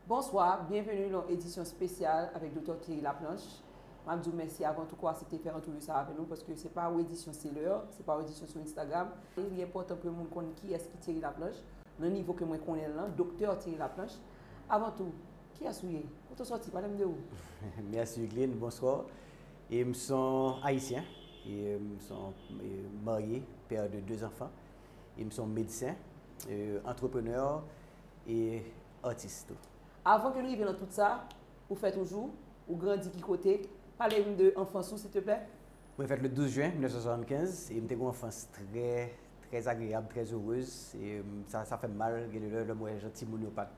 Bonswa, byenveni lan edisyon spesyal avèk Doktè Thierry Laplanche. Map di w mèsi avan tou pou asepte fè antrevi sa avè nou paske se pa ou edisyon se lè, se pa ou edisyon sou Instagram. Li enpòtan pou yon moun konn kiyès ki Thierry Laplanche nan nivo ke mwen konnen l lan, Doktè Thierry Laplanche. Avan tou, kiyès ou ye? Kote w sòti? Pale m de ou. Mèsi Wideline, bonswa. E m son Ayisyen, e m son marye, père de 2 enfants, e m son medsen, antreprenè, e atis tou. Avan ke nou rive nan tout sa ou fè toujou, ou grandi ki kote? Pale m de anfans ou silteplè? Mwen fèt le 12 jen 1975 e m te gen yon anfans trè, trè agreyab, trè erez. E sa, sa fè m mal gen de lè lè m wè jan timoun yo pa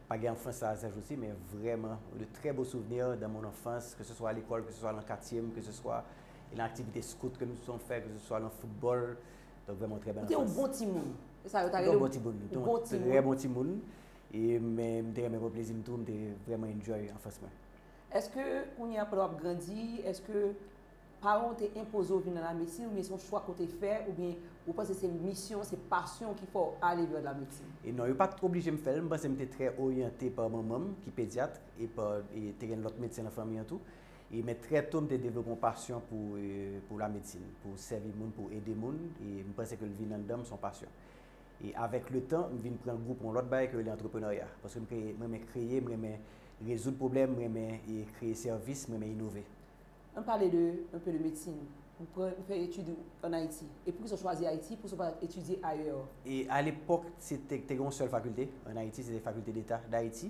pa gen anfans sa a sa jodi. Men vrèman de trè bo souvni dans mon enfance ke se swa alekòl, ke se swa lan katye m, ke se swa lan aktivite skout ke m te souvan fè, ke se swa lan foutbòl, Donk vreman ou trè bèl an fas. Ou te yon bon timoun. Se sa yo ta rele ou. Ou te yon bon timoun. Ou te yon trè bon timoun. E men m te renmen pran plezi m tou. M te vreman enjoy an fas mwen. Eske kounye a pandan w ap grandi, eske paran w te enpoze w vin nan lamedsin oubyen se yon chwa ke w te fè oubyen ou panse se misyon, se pasyon ki fè w ale vè lamedsin? E non, yo pa t oblije m fè l. M panse m te trè oryante pa manman m ki pedyat e pa, te gen lòt medsen nan fanmi an tou. E men trè to m te devlope yon pasyon pou pou lamedsin, pou sèvi moun, pou ede moun, e m panse ke l vin anndan m, s on pasyon. E avèk le tan, m vin pran gou pou yon lòt bagay ki rele antreprenerya, paske m kreye, m renmen kreye, m renmen rezoud pwoblèm, m renmen e kreye sèvis, m renmen inove. An n pale de un peu de medsin. Ou pran, ou fè etid ou an Ayiti. E poukisa w chwazi Ayiti, poukisa w pa etidye ayè? E alepòk se te, te gen yon sèl fakilte an Ayiti, se te Faculté d'Etat d'Haïti.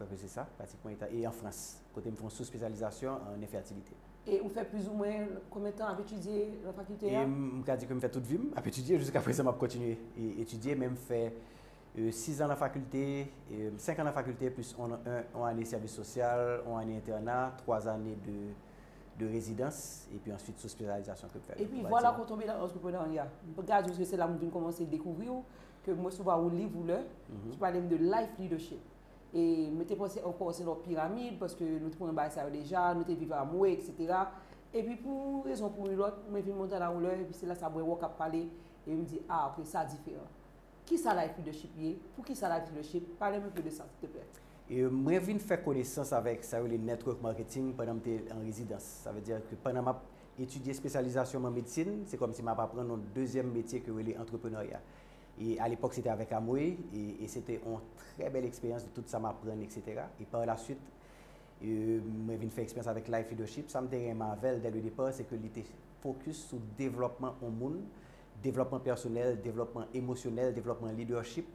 Kwèke se sa, pratik mwen etan e an Frans, kote m fè yon souspesyalizasyon an enfètilite. E ou fè plizoumwen konbyen tan ap etidye lan fakilte a? E m ka di ke m fè tout vi m ap etidye, jiska prezan m ap kontinye etidye, men m fè sis an lan fakilte, senk an lan fakilte plis on ane sèvis sosyal, on ane entèna, twa ane de rezidans, epi answit souspesyalizasyon ke m fè lan. Epi vwala ke w tonbe lan antreprenarya. M ka di w ke se la m vin kòmanse dekouvri w, ke m resevwa yon liv ou lè, ki pale m de life leadership. E mwen te panse ankò se lò piramid, paske nou te konnen bagay sa yo deja, nou te viv Amway, eksetera. Epi pou yon rezon pou yon lòt, mwen vin Montana yon lè, epi se la sa mwen wè w k ap pale, epi m di, a, ok, sa diferan. Kisa life leadership ye? Poukisa life leadership? Pale m anpe de sa, silteplè. Mwen vin fè konesans avèk sa yo rele network marketing pandan m te an rezidans. Sa vle di ke pandan m ap Etidye espesyalizasyon m an medsin, se kòmsi m ap aprann yon dezyèm metye ke yo rele antreprenarya. E a lepòk se te avèk Amway e se te yon trè bèl eksperyans de tout sa m aprann eksetera. E par la swit mwen vin fè eksperyans avèk Life Leadership. Sa m te renmen avè l dè le depar se ke li te fokis sou devlòpman yon moun, devlòpman pèsonèl, devlòpman emosyonèl, devlòpman leadership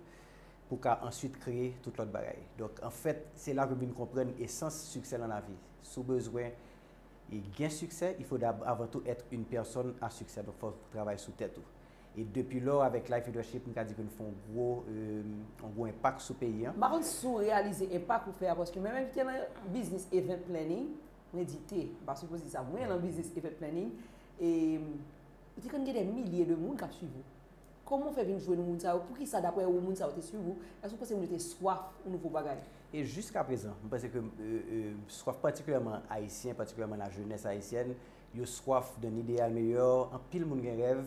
pou w ka answit kreye tout lòt bagay. Donk anfèt se la ke m vin konprann esans siksè lan lavi. Si w bezwen E gen succès il faut d'ab avant tout être une personne à succès donc fòw travay sou tèt ou. E depi lò avèk Life Leadership m ka di ke nou fè yon gwo yon gwo enpak sou peyi an. M pa konn si w reyalize enpak ou fè a paske mwen menm ki te nan biznis event planning, mwen di te, m pa sipoze di sa, mwen nan biznis event planning e ou te konn gen dè milye de moun k ap swiv ou. Kòman ou fè vin jwenn moun sa yo? Poukisa daprè ou moun sa yo te swiv ou? Èske ou panse moun yo te swaf yon nouvo bagay? E jiskaprezan, m panse ke swaf patikilyèman Ayisyen, patikilyèman lajenès ayisyèn, yo swaf d'un idéal meilleur. Anpil moun gen rèv.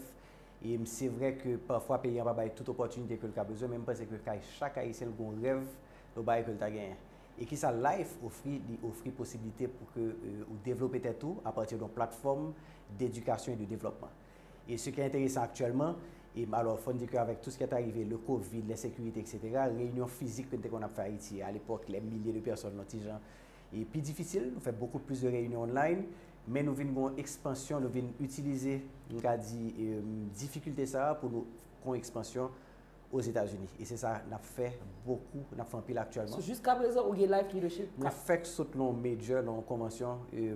E se vre ke pafwa peyi an pa bay tout opòtinite ke l ka bezwen, men m panse ke kay chak Ayisyen l gon rèv yo bay ke l ta genyen. E kisa Life ofri? Li ofri posibilite pou ke ou devlope tèt ou apati don platfòm d'edikasyon e de devlòpman. E se ki enteresan aktyèlman, e alò fòn di ke avèk tou se ki ete arive, le covid, lensekirite eksetera, reyinyon fizik ke nou te konn ap fè Ayiti a lepòk, lè milye de pèsòn yon ti jan e pi difisil, nou fè bokou plis de reyinyon online, men nou vin gen yon ekspansyon, nou vin itilize, m ka di, difikilte sa a pou nou gen yon ekspansyon Ozetazini. E se sa nap fè bokou, nap fè anpil aktyèlman. So jiskaprezan ou gen Life Leadership? Mwen fèk sot lan yon major, lan yon konvansyon e.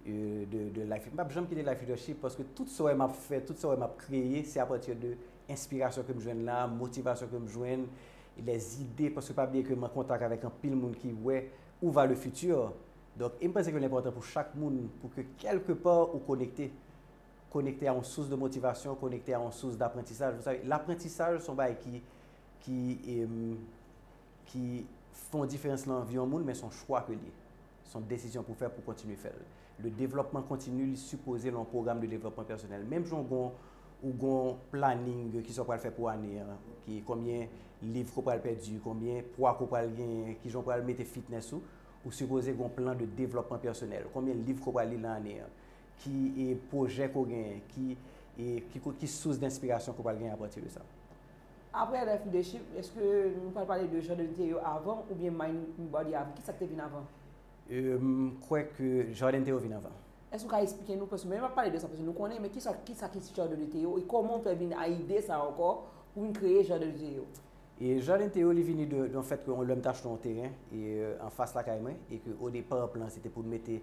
de life. M pap janm kite life leadership paske tout sa ou wè m ap fè, tout sa ou wè m ap kreye, se apati de enspirasyon ke m jwenn la, motivasyon ke m jwenn, les idées, paske pa bliye ke m an kontak avèk anpil moun ki wè ou va le futur. Donk, e m panse ke l enpòtan pou chak moun pou ke kèlke pa ou konekte. Konekte a yon sous de motivasyon, konekte a yon sous d'aprantisaj. Vous savez, l'aprantisaj son bagay ki, ki, ki fè yon diferans nan vi yon moun men son chwa ke l ye. Son desizyon pou fè pou kontinye fèl. Le devlòpman kontini li sipoze lan yon pwogram de devlòpman pèsonèl. Menm jan w gon ou gon planing de kisa w pral fè pou ane an, ki konbyen liv ke w pral pèdi, konbyen pwa ke w pral genyen, kijan w pral mete fitness ou, ou sipoze gon plan de devlòpman pèsonèl. Konbyen liv ke w pral li lan ane an, ki e pwojè ke w genyen, ki e ki sous denspirasyon ke w pral genyen apati de sa. Aprè Life Leadership, eske nou pral pale de Jordan te yo avan oubyen Mind Your Body avan? Kisa ki te vin avan? M kwè ke Jordan te yo vin avan. Èske ou ka esplike nou, paske mwen m ap pale de sa paske nou konnen, men kisa ki sa ki Jordan te yo e kòman ou fè vin a ide sa ankò pou vin kreye Jordan te yo? E Jordan te yo li vini de yon fèt ke yon lèm te achte yon teren e anfas lakay mwen e ke odepa plan se te pou mete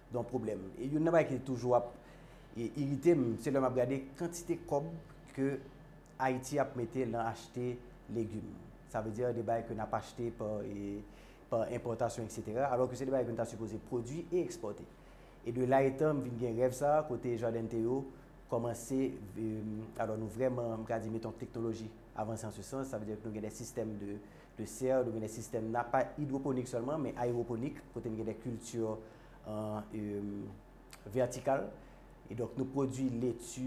Don pwoblèm. E youn nan bagay ki toujou ap irite m, se lè m ap gade kantite kòb ke Ayiti ap mete lan achte legim. Sa vle di de bagay ke n ap achte pa enpòtasyon eksetera, alò ke se de bagay ke nou ta sipoze pwodui e ekspòte. E de la etan m vin gen rèv sa a kote Jardente yo kòmanse, alò nou vrèman, m ka di, mete yon teknoloji avanse an se sans, sa vle di nou gen de sistèm de de serre, nou gen de sistèm nan, pa idwoponik sèlman, men ayewoponik, kote nou gen de kilti vètikal. E donk nou pwodui leti,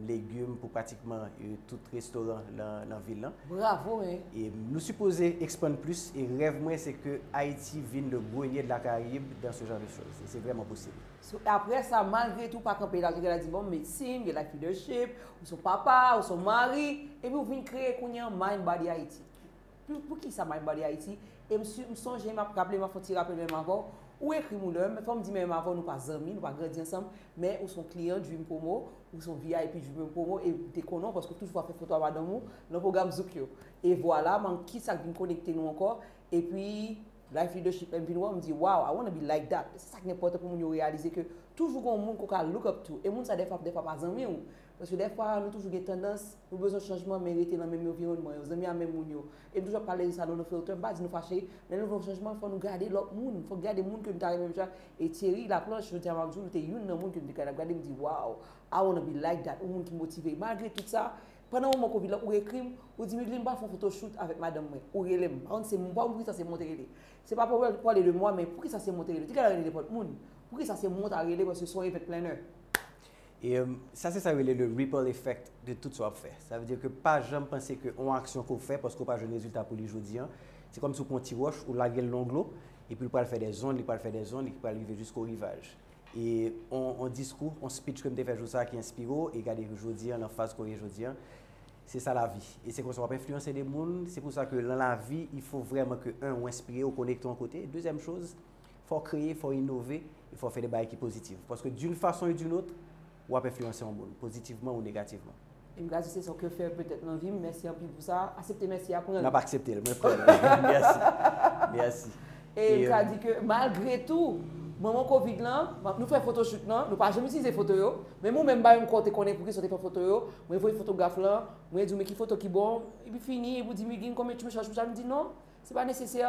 legim pou pratikman tout restoran nan vil lan. Bravo e! E nou sipoze ekspann plis, e rèv mwen se ke Ayiti vin le Grenier de la Caraïbe dans ce genre de choses. E se vrèman posib. So aprè sa malgre tou pa kanpe la jere la di bon medsin, gen life leadership, ou son papa, ou son mari, epi ou vin kreye kounye an Mind Body Haiti. Pou, pou ki sa Mind Body Haiti? E m si, m sonje m ap raple m ap fè yon ti rapèl menm avè w, ou ekri m ou lè, men fò m di menm avè w nou pa zanmi, nou pa grandi ansanm, men ou son kliyan Dream Promo, ou son vip Dream Promo e m te konnen w paske w toujou ap fè foto a madanm ou nan pwogram Zouk yo. E vwala, m an ki sa k vin konekte nou ankò, epi Life Leadership lèm vin wèw m di wow I wanna be like that se sak enpòtan pou moun yo reyalize ke toujou gen yon moun ke w ka look up to e moun sa dèfwa ap dèfwa pa zanmi w paske dèfwa nou toujou gen tandans nou bezwen chanjman men rete nan menm environman yo zanmi a menm moun yo e m toujou ap pale de sa nan No Filter m pa di nou fache lè nou vle yon chanjman fò nou gade lòt moun fòk gade moun ke nou ta renmen menmjan e Thierry Laplanche jodi a map di w li te youn nan moun ke m te gade ap gade m di wow I wanna be like that yon moun ki motive malgre tout sa Pandan moman covid la ou ekri m, ou di Mideline m pa fon foto shoot avèk madanm mwen, ou rele m, pa konn se m pa konn poukisa se mwen w te rele. Se pa pou w pale de mwa men poukisa se mwen w te rele, w te ka rele nenpòt moun, poukisa se mwen w ta rele paske se yon event planner. E sa se sa yo rele le ripple effect de tout sa w ap fè. Sa vle di ke pa janm panse ke yon aksyon ke w fè paske w pa jwenn rezilta pou li jodi an, se kòmsi w pran yon ti wòch ou lage l longlou epi l pral fè dè zond, li pral fè dè zond, li pral rive jisko rivaj. E yon diskou, yon speech ke m te fè jou sa a ki enspire w e gade jodi an nan faz ke w ye jodi an. Se sa lavi. E se konsa w ap enfliyanse de moun. Se pou sa ke lan lavi, il fo vrèman ke 1 ou enspire, ou konekte yon kote. Dezyèm choz, fò w kreye, fò w inove, e fò w fè de bagay ki pozitiv. Paske d'une façon et d'une autre, Ou ap enfliyanse yon moun, pozitivman ou negativman. Em grace se sa w ke fè petèt nan vim mèsi anpil pou sa asepte mèsi a pranl. Map aksepte l mwen pranl merci merci e m ka di ke malgre tou moman covid lan nou fè photoshoot lan nou pa janm itilize foto yo menm ou menm ba yon kò te konnen pouki sa w te fè foto yo mwen voye fotograf lan mwen di w men ki foto ki bon epi fini epi w di m u gin konbyen tu me charge pou sa m di non se pa nesesè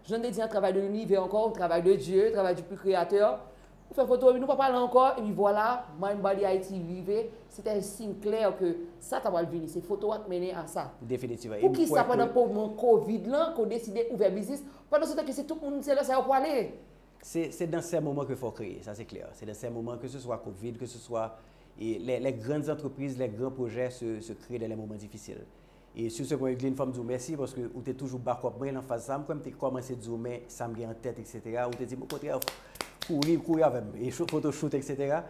jan de di an travay de l'univers ankò ou travay de Dieu travay du plus créateur Ou fè foto epi nou pa pale ankò epi vwala Mind Body Haiti rive, se te yon siy klè ke sa ta pral vini, se foto a k mennen a sa. Definitivman. E m kwè ke. Poukisa pandan moman covid lan ke w deside ouvè biznis, pandan se tan ke se tout moun se lè sa yo pwale? Se se dan sè moman ke fò w kreye, sa se klè. Se dan sè moman ke se swa covid, ke se swa e lè lè grann zantrepriz, lè gran pwojè se se kreye dan lè moman difisil. E sur ce Grand Eglin fòm di w mèsi paske ou te toujou backup mwen nan faz sa, m kwè m te kòmanse di w men sa m gen an tèt etc ou te di m okontrè kouri kouri avè m e foto shoot etc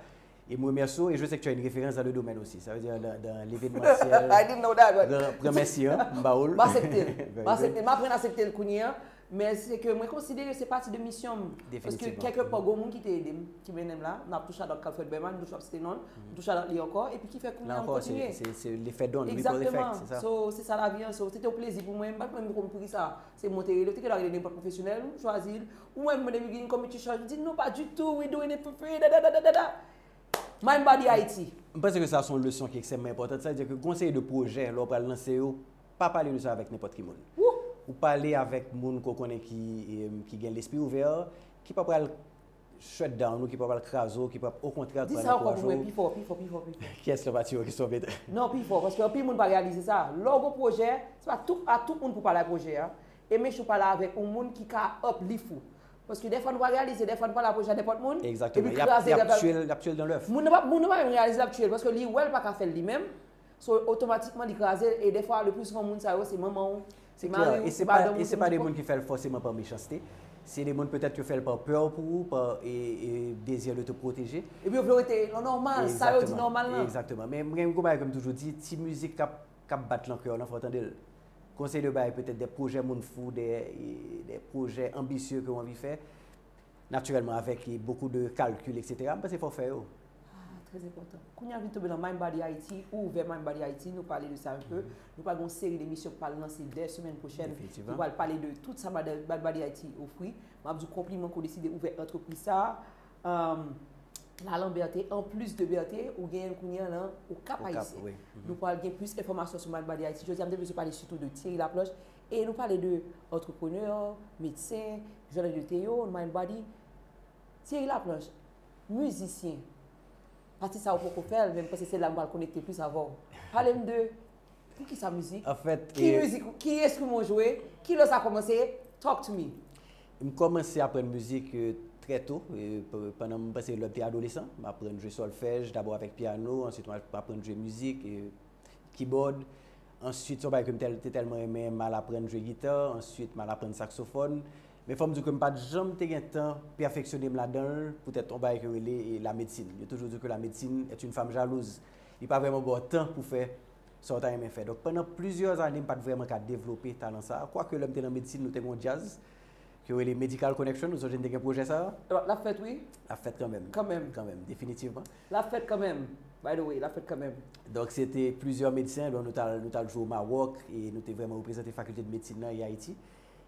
e m remèsye w e je se ke tu as une référence dans le domaine aussi sa vle di dans l'événementiel I didn't know that but premèsi an m ba w l M asepte l, m asepte l, m aprann asepte l kounye an Men se ke mwen konsidere se pati de misyon m. Paske kèlke pò gon moun ki te ede m, ki mennen m la. M ap tou shout out Kalfred Berman, m toujou ap site non l. M tou shout out li ankò. Epi ki fè kounye an m kontinye. La ankò se lefè don, ripple effect, se sa? Egzakteman. So, se sa lavi an. So, se te yon plezi pou mwen. M pa t menm konn poukisa se mwen te rele. Ou te gen dwa rele nenpòt pwofesyonèl, m chwazi l. Ou wè m mande m gen community charge, li di non pa ditou, we doing it for free, dadadadadada. Mind body Haiti. M panse ke sa se yon leson ki ekstrèmman enpòtan. Sa vle di ke gen yon seri de pwojè lè w pral lanse yo, Pa pale de sa avèk nenpòt ki moun. Ou pale avèk moun ke w konnen ki gen lespri ouvè, ki pa pral shut down ou, ki pa pral kraze w, ki pral okontrè ap pral ankouraje w. Di sa ankò pou mwen pi fò, pi fò, pi fò, pi fò. Kiyès lè w pa tire w kesyon w mete? Non, pi fò, paske anpil moun pa reyalize sa. Lè w gen yon pwojè, se pa tout a tout moun pou w pale pwojè a. E make sure w pale avèk yon moun ki ka uplift ou. Paske dèfwa nou pa reyalize, dèfwa nou pale pwojè a nenpòt moun, epi kraze l. Exactement. Y ap tye l dan lèf. Moun nan pa menm reyalize l ap tye l, paske li wè l pa ka fè l li menm. So otomatikman li kraze l e dèfwa le plus souvent moun sa yo se manman w, se mari w, se madanm w, se pitit w. ki fè l fòseman pa mechanste. Se de moun petèt yo fè l pa pè pou ou, pa dezi de te pwoteje. Epi yo vle w rete nan nòmal, sa yo di nòmal lan. Egzakteman. Men mwen gen yon bagay ke m toujou di, ti mizik k ap bat lan kè w lan fò w tande l. Kon se de bagay petèt de pwojè moun fou, de pwojè anbisye ke w anvi fè, Naturellement avec beaucoup de calcul etc. M panse fò w fè yo. Ah, très important. Kounye a vin tonbe nan Mind Body Haiti ou ouvè Mind Body Haiti, nou pale de sa un peu. Nou pral gen yon seri de emisyon k pral lanse dè semèn pwochèn ki pral pale de tout sa Mind Body Haiti ofri. M ap di w konpliman ke w deside ouvè antrepriz sa a. Ehm la lan Berthe, an plis de Berthe, ou genyen l kounye a lan Okap Ayisyen. Nou pral gen plis enfòmasyon sou Mind Body Haiti. Jodi a m te vle sou pale sitou de Thierry Laplanche E nou pale de entrepreneur, medsen, journalist de Théo, mind body, Thierry Laplanche, musicien. Pati sa ou poko fèl men m panse se la m pral konekte plis avè w. Pale m de pou ki sa mizik, ki mizik, ki enstriman ou jwe, ki lè sa kòmanse, talk to me. M kòmanse aprann mizik trè to, pandan m panse lè m te adolesan, m aprann jwe solfèj, dabò avèk piano, answit m aprann jwe mizik. kibòd, answit son bagay ke m te tèlman renmen, m al aprann jwe gita, answit m al aprann saksofòn, men fò m di w ke m pa t janm te gen tan pèfeksyone m ladan l poutèt yon bagay yo rele lamedsin, yo toujou di w ke lamedsin est une femme jalouse, li pa vrèman ba w tan pou fè sa w ta renmen fè, donk pandan plizyè ane m pa t vrèman ka devlope talan sa, kwake lè m te nan medsin nou te gen yon djaz, Yo rele Medical Connection, ou sonje n te gen pwojè sa a? L ap fèt wi. L ap fèt kanmenm. Kanmenm. Kanmenm, definitivman. L ap fèt kanmenm. By the way, l ap fèt kanmenm. Donk se te plizyè medsen, bon nou t al nou t al jwe o Mawòk e nou te vrèman reprezante fakilte de medsin nan e Ayiti.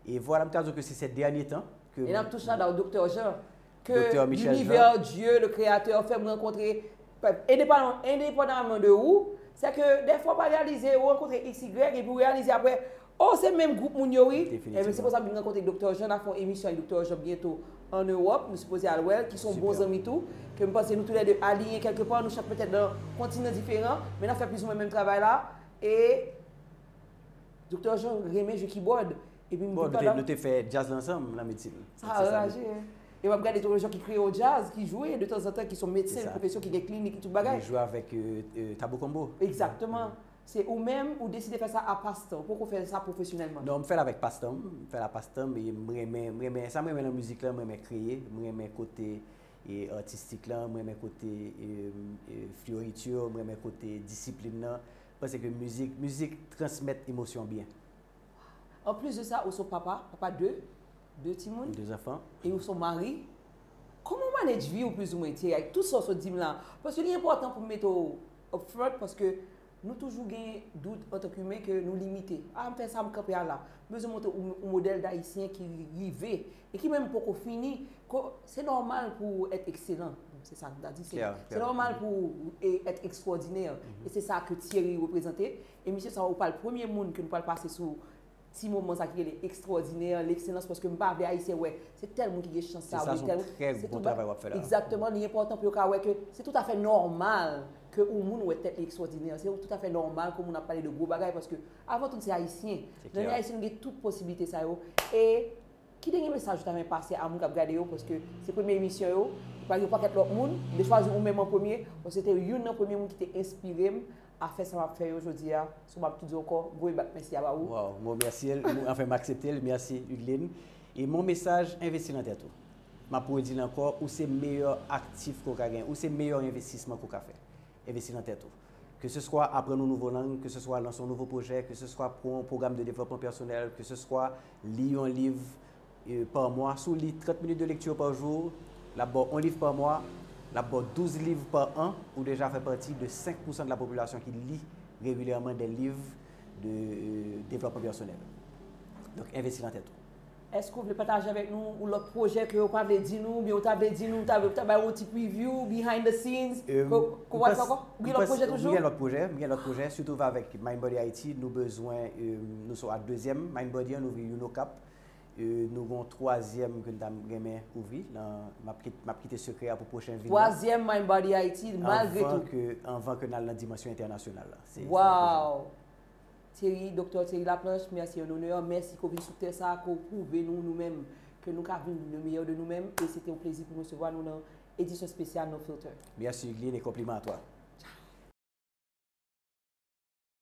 E vwala m ka di w ke se sè dènye tan ke m. E n ap tou shada w Doktè Jean Ke l'univers, Dieu, le créateur fèm rankontre Endepandaman de ou Se ke defwa ou pa reyalize ou rankontre xy Epi ou reyalize apre Oh se menm group moun yo wi Enben se konsa m vin rankontre Doktè Jean Nap fè yon emisyon ak Doktè Jean byento an Europe Nou sipoze al wè l Ki son bon zanmi tou Ke m panse nou tou lè 2 aliyen kèlke pa Nou chak petèt nan kontinan diferan Men nap fè plizoumwen menm travay la E Doktè Jean renmen jwe kibòd Epi m te pandan. Bon, nou te fè djaz la ansanm nan medsin. Sa anraje. E m ap gade tou lè jan ki kreye yon djaz, ki jwe de tanzantan, ki son medsen, yon pwofesyon ki gen klinik, ki tout bagay. Li jwe avèk Tabou Konbo. Egzakteman. Se ou menm, ou deside fè sa a pastan. Ou poko fè sa pwofesyonèlman. Non, m fè l avèk pastan m. M fè l a pastan m. E m renmen, m renmen, sa m renmen nan mizik la, m renmen kreye. M renmen kote atistik la, m renmen kote floritur, m renmen kote disiplin nan. Paske mizik, mizik transmèt emosyon byen. Waww anplis de sa ou son papa, papa de, de timoun, De zanfan. e ou son mari, kòman ou manage vi ou plis ou mwen Thierry avèk tout sa ou sot dim la, paske li enpòtan pou m mete w up front paske nou toujou gen dout antan k imen ke nou limite, a m fè sa m kanpe a la, m bezwen montre w yon modèl dayisyen ki rive e ki menm poko fini ke se nòmal pou w èt ekselan, se sa m ta di, se nòmal pou w èt ekstwòdinè e se sa ke Thierry reprezante Emisyon sa ou pral premye moun ke nou pral pase sou ti moman sa ki rele ekstwòdinè, lekselans paske m pa vle ayisyen wè se tèl moun ki gen chans sa oubyen tèl moun, egzakteman li enpòtan pou yo ka wè ke se toutafè nòmal ke ou moun wè tèt li ekstwòdinè, se toutafè nòmal ke ou moun ap pale de gwo bagay paske avan tout se ayisyen nan men ayisyen nou gen tout posiblite sa yo e ki dènye mesaj ou ta renmen pase a moun kap gade yo paske se premye emisyon yo, yo gen yon pakèt lòt moun, m te chwazi ou menm an premye paske se te youn nan premye moun ki te enspire m Afè sa map fè yo jodia so map tou di ankò gwo e bat mèsi a ba ou. Waww mwen remèsye l, mwen anfen m aksepte l, mèsi Udline. E mon mesaj envesti nan tèt ou. Map redi l ankò ou se meyè aktif ke w ka gen, ou se meyè envestisman ke w ka fè. Envesti nan tèt ou. Ke se swa aprann yon nouvo lang, ke se swa lanse yon nouvo pwojè, ke se swa pran yon pwogram de devlòpman pèsonèl, ke se swa li yon liv, par mwa, si w li 30 minit de lekti par jou, l ap ba w 1 liv par mwa, l ap ba w 12 liv par an, ou deja fè pati de 5 pousan de la popilasyon ki li regilyèman de liv de devlòpman pèsonèl. Donk envesti nan tèt ou. Èske ou vle pataje avèk nou yon lòt pwojè ke yo pa vle di nou, oubyen ou ta vle di nou, ta vle bay yon ti preview, behind the scenes, ke ou pa di ankò? Ou gen lòt pwojè toujou? Mwen gen lòt pwojè, mwen gen lòt pwojè, sitou avèk Mind Body Ayiti, nou bezwen, nou sou a dezyèm Mind Body an, nou ouvri youn Okap, E nou gen yon twazyèm ke n ta renmen ouvri nan, m ap kite, m ap kite sekrè a pou pwochen vin nan. Twazyèm Mindbody Haïti malgre tou. Anvan ke, anvan ke n al nan dimansyon entènasyonal la. Se, se toujou. Waww! Thierry, Doktè Thierry Laplanche, merci en honneur, merci ke w vin sou tè sa a, ke w pwouve nou nou menm ke nou ka vin le meilleur de nou menm e se te yon plezi pou m resevwa nou nan edisyon spesyal No Filter. Merci Hugueline e konpliman a twa. Tcha!